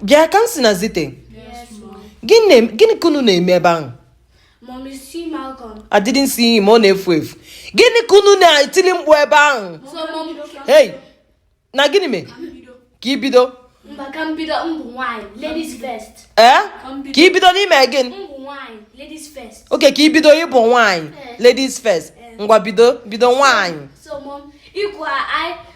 bịa Kamsi na Zite gịnị ka unu na-eme ebe ahụ I didn't see him ọ na-efu efu gịnị ka unu na-etili mkpu ebe ahụ hey na gịnị mee ka i bido ka i bido n'ime gịnị okay ka i bido ị bụ nwaanyị ladies first ngwa bido bido nwaanyị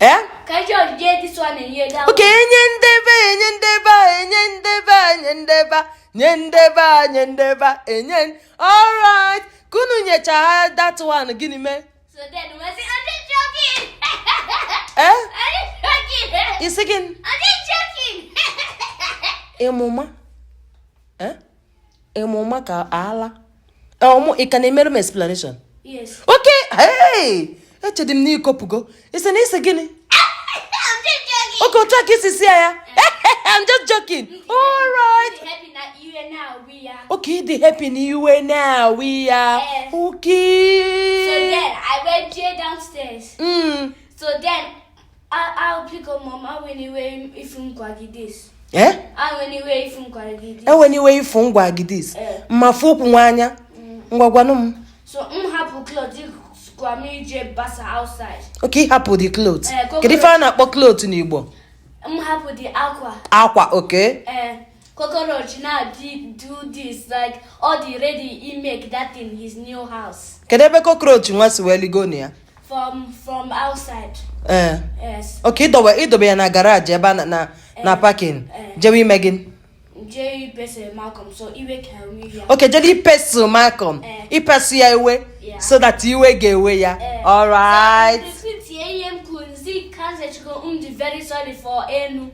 Eh? okay enye ndebe enye ndebe enye ndebe enye ndebe nye ndebe nye ndebe enye alright ka unu nyechaa that one gịnị mee eh? ị sị gịnị ịmụma ịmụ maka ala ọmụ ị ka na-emere m explanation okay echedị m n'ikopụgo ị sị na ị sị gịnị okay otu a ka i si sị ya ya I'm just joking all right okay ị dị happy na iwe na-ewe ya okay so then I went downstairs mm. so then enweniwe ifu ngwa gidis m ma fụ ụkwụ nwa anya ngwa gwanụ m okay ị hapụ the clothes eh, kedu ife a na-akpọ clothes n'Igbo akwa okay cockroach now did do this like all the ready he make that in his new house kedu ebe cockroach nwa si wee ligo na ya from from outside ee eh. yes okay i dobe i dobe ya na garage ebe a na na eh. parking eh. jewe ime gịnị okay jewe ịkpasu Malcolm ịkpasu ya iwe so that iwe ga-ewe ya alright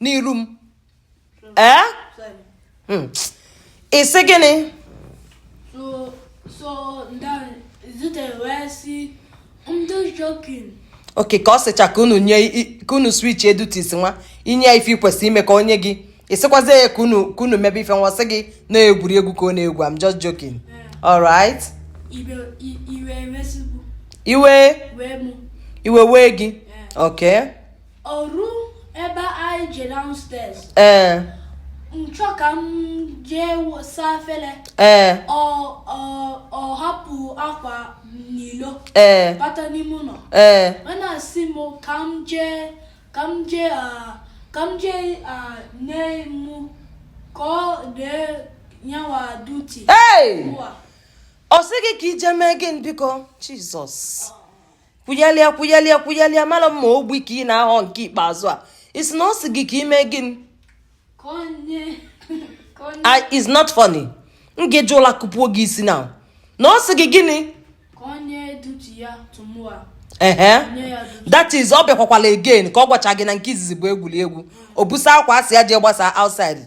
n'iru m ee hmm. ị sị gịnị okay ka ọ sịcha ka unu nye ka unu switchie duties nwa i nye ya ife i kwesị ime ka o nye gị ị sịkwazi ya ka unu ka unu mebe ife nwa sị gị na egwuregwu ka ọ na-egwu I'm just joking alright iwe iwe wee gị okay Ọrụ ebe anyị je downstairs. Ee. Eh. M chọ ka m jee saa afele. Ee. Eh. Ọ ọ ọ hapụ akwa n'ilo. Ee. Eh. Bata n'ime ụnọ. Ee. Ọ na-asị m ka m jee ka m jee ah, ka m jee ah, nye mụ ka ọ dee nyawa duty. Ee. Ọ sị gị ka i jee mee gịnị biko Jesus. Oh. kwughalịa kwughalịa kwughalịa mara mma ogbi ka ị na-aghọ nke ikpeazụ a ị sị na ọ sị gị ka i mee gịnị it's not funny m ga-eji ụla kụpuo gị isi na na ọ sị gị gịnị ehe that is ọ bịakwakwala again ka ọ gwacha gị na nke izizi bụ egwuregwu o busa akwa a sị ya jee gbasa outside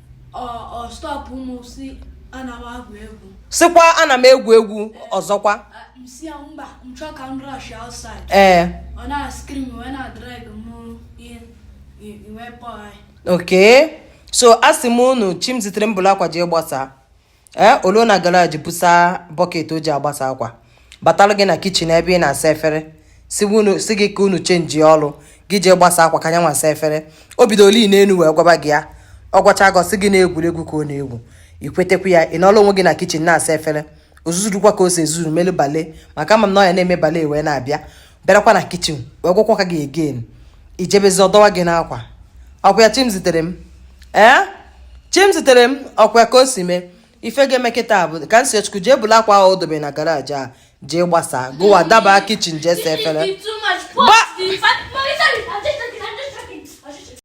sịkwa ana m egwu egwu ọzọkwa ee okay so asị m unu Chimziterem bulu akwa jee gbasaa ee o luo na garaji busa bọket o ji agbasa akwa batara gị na kichin ebe ị na-asa efere sị gị ka unu chenji ọrụ gị jee gbasa akwa ka nya nwa saa efere o bidolu n'elu wee gwaba gị ya ọ gwacha gị ọ sị gị na egwuregwu ka ọ na-egwu i kwetakwu ya ị nọrọ onwe gị na kichin na-asa efere o zuzurukwa ka o si ezuzuru melu bale maka ama m na ọ ya na-eme bale wee na-abịa bịarakwa na kichin wee gwakwakwa gị again i jebezi ọ dọwa gị n'akwa ọ kwa ya Chimziterem ee Chimziterem ọ kwa ya ka o si mee ife ga-eme kịta bụ Kamsichukwu jee bulu akwa ahụ o dobe na garaji a jee gbasaa gụwa daba kichin jee saa efere